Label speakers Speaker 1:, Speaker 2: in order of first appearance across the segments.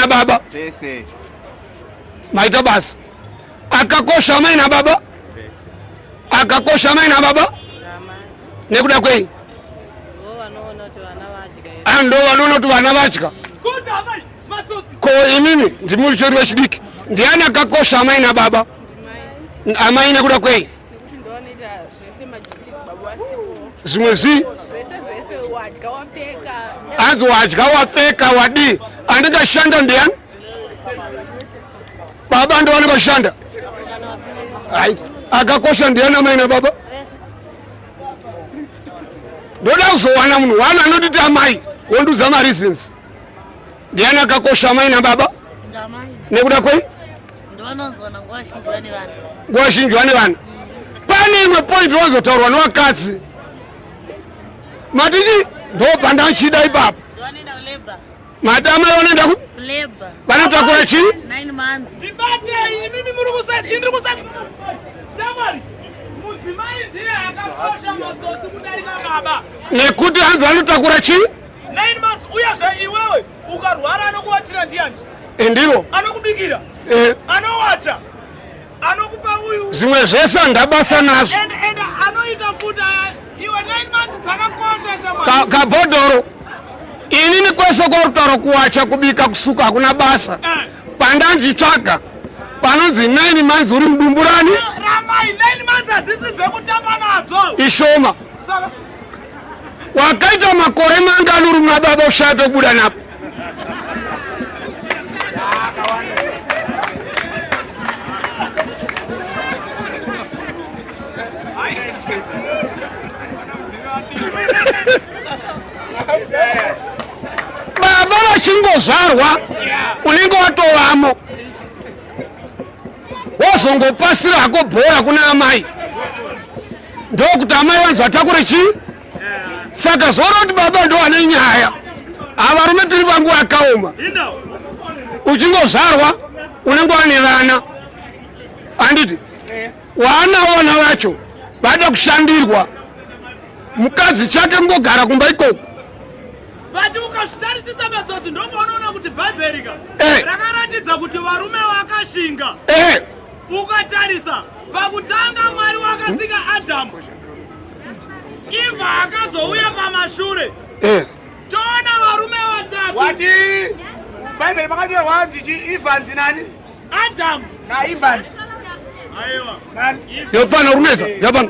Speaker 1: baba maita basa akakosha amai nababa akakosha amai nababa nekuda kwei ah, ndo vanoona kuti vana vatya ko inini ndimuri chori vechidiki ndiani akakosha amai nababa amai nekuda kwei zvimwe zvii hanzi wadya wapfeka wadii anenge ashanda ndiyani baba ndo vanenge vashanda hai akakosha ndiyani amai nababa ndoda kuzowana munhu wani anotiti amai wondiudza mareasons ndiyani akakosha amai nababa nekuda kwei nguva zhinji vane vana pane imwe point wazotaurwa nevakadzi matiti ndobanda achida ipapo madama vanoenda ku vanotakura chii nekuti hanzi vanotakura chii
Speaker 2: Ukarwara anokuwatira ndiani? Eh, ndiro.
Speaker 1: Anokubikira.
Speaker 2: Eh. Anowata. Anokupa uyu. Zvimwe zvese handabasa
Speaker 1: nazvo. And, and anoita
Speaker 2: futa iwe 9 months dzakakosha shamwari. Kabhodhoro.
Speaker 1: Inini kwese kwarutaura kuwacha kubika kusuka hakuna basa. Eh. Pandanzvitsvaga panonzi 9 months uri mudumburani. Ramai 9
Speaker 2: months hadzisi dzekutamba nadzo. Ishoma. Saka
Speaker 1: wakaita makore mangani uri muna baba ushaya pekubuda napo baba vachingozvarwa unenge watovamo wozongopasira hako bhora kuna amai ndokuti amai vanzi vatakure chii saka zvoona kuti baba ndo vane nyaya avarume tiri vangu vakaoma uchingozvarwa unenge wane vana anditi waana vana vacho vada kushandirwa mukadzi chake mungogara kumba ikoko vati
Speaker 2: ukazvitarisisa madzodzi ndomaunoona kuti bhaibheri ka eh. rakaratidza kuti varume vakashinga eh. Ukatarisa pakutanga Mwari wakasika Adamu, Eva akazouya pamashure. Eh. Toona varume vatatu. Wati
Speaker 3: Bible makanyorwa hanzi chi Evans nani? Adam
Speaker 2: na Evans.
Speaker 3: Aiwa.
Speaker 2: Yopana
Speaker 1: runeza, yabana.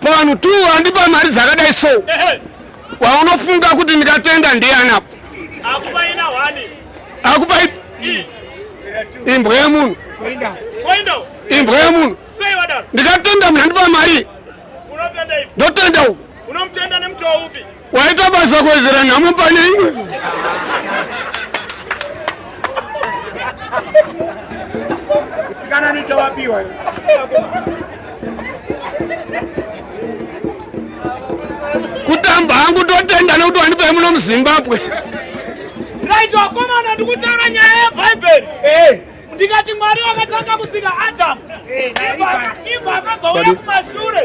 Speaker 1: Pano tu andipa mari dzakadai so waunofunga kuti ndikatenda ndiani apo
Speaker 2: akupa
Speaker 1: imbwa yemunhu imbwa yemunhu ndikatenda munhu andipa mari ndotenda uku
Speaker 2: Waita basa kuwedzera
Speaker 1: nhamo pane imwe.
Speaker 3: Kana nichawapiwa.
Speaker 1: Kutamba hangu totenda nekuti wandipa muno muZimbabwe.
Speaker 2: Right wakomana ndikutaura nyaya yeBhaibheri. Eh. ndikati mwari wakatanga kusika adamu ibva akazouya kumashure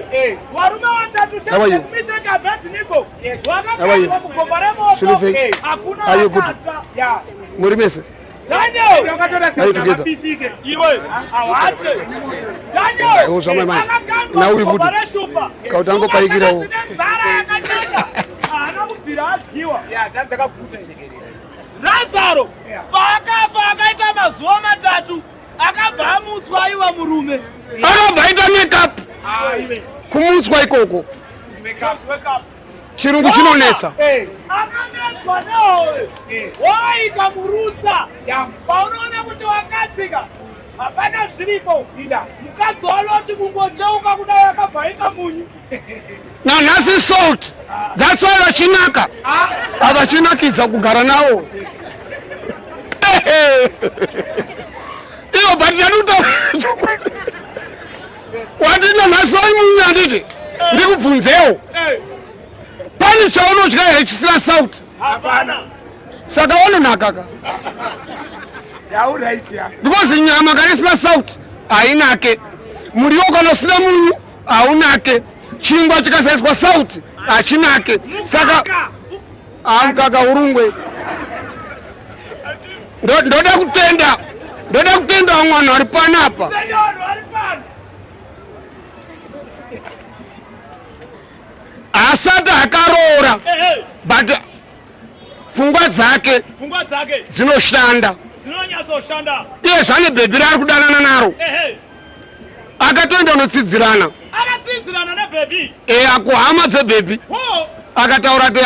Speaker 2: varume vatatu chemisheki abednigo vakaaa kugomba
Speaker 1: remoto
Speaker 2: hakuna
Speaker 3: akata
Speaker 2: muri mese
Speaker 1: nauri futi kauti angopaikirawo
Speaker 2: razaro paakafa akaita mazuva matatu akabva amutswa aiwa murume akabva aita
Speaker 1: makeup kumutswa ikoko chirungu chinonetsa akanetswa
Speaker 2: nehowe wovaita murutsa paunoona kuti wakadzika hapana zviripo mukadzi wanoti kungocheuka kudai akabva aita munyu nanhasi
Speaker 1: salt that's why vachinaka avachinakidza kugara nawo ivo but ndanuta wati nanhasi vaimunya handiti ndikubvunzewo pane chaunodya here chisina salt
Speaker 3: saka
Speaker 1: wanonakaka because nyama kana isina salt hainake muriwo kana usina munyu haunake chingwa chikasaiswa sauti hachinake saka amkaka urungwe ndoda kutenda ndoda kutenda vamwe vanhu vari pano apa asati akaroora but pfungwa dzake dzinoshanda iye zvane bhebhi raari kudanana naro akatoenda unotsidzirana akatsidzirana nebhebhi e akuhama dzebhebhi akataura ti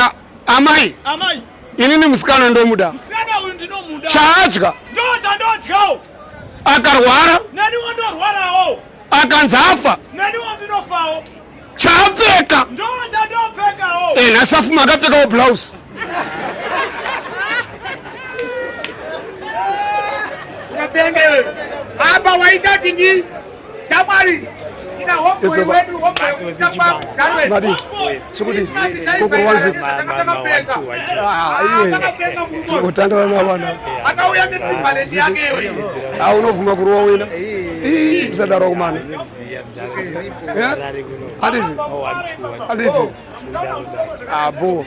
Speaker 1: amai amai inini musikana ndomuda musikana uyu ndinomuda chaadya ndochandodyawo akarwara neniwo ndorwarawo akanzi afa neniwo ndinofawo chaapfeka eh, nhasi afuma akapfekawo blouse
Speaker 3: apa waita tini samwari chikuti
Speaker 1: kokorwanzi totandana navana aunobvuma kurowa wena isadaro kumana abo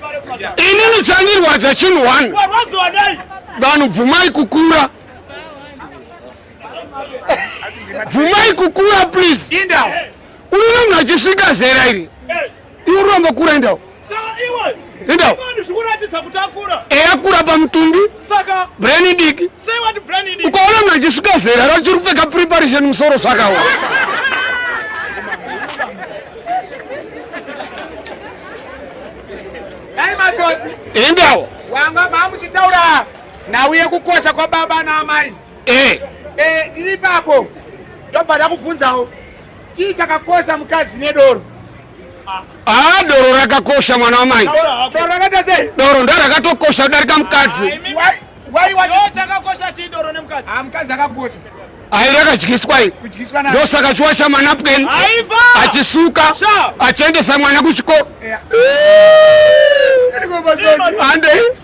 Speaker 1: inini chandirwadza chinhu one vanhu bvumai kukura bvumai kukura please unono mnhu achisvika zera iri Iwe urombo kura endawo. Endawo. Eya eh, kura pamutumbi. Saka. Brain idiki. Say what brain idiki. Ukaona mna chisvika zera rachiri kupfeka preparation musoro saka wa. Hey matoti. Endawo. Wanga
Speaker 3: mamuchitaura nhau yekukosha kwababa naamai. Eh. Eh, ndiri papo. Ndobva ndakubvunzawo. Chii chakakosha
Speaker 1: mukadzi nedoro? Ah, doro rakakosha mwana wamai. Doro rakaita
Speaker 3: sei? Doro ndo rakatokosha
Speaker 1: kudarika mukadzi. Ah, why why what? Chakakosha chii
Speaker 3: doro nemukadzi? Ah, mukadzi akakosha. Ayi rakadyiswa
Speaker 1: iyi. Kudyiswa nayo. Ndosaka chiwa cha manapkin. Aiva. Achisuka. Achiendesa mwana kuchikoro. Yeah. Ande.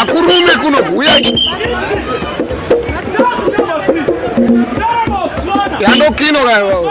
Speaker 1: akurume kuno kuuya yandokino kayo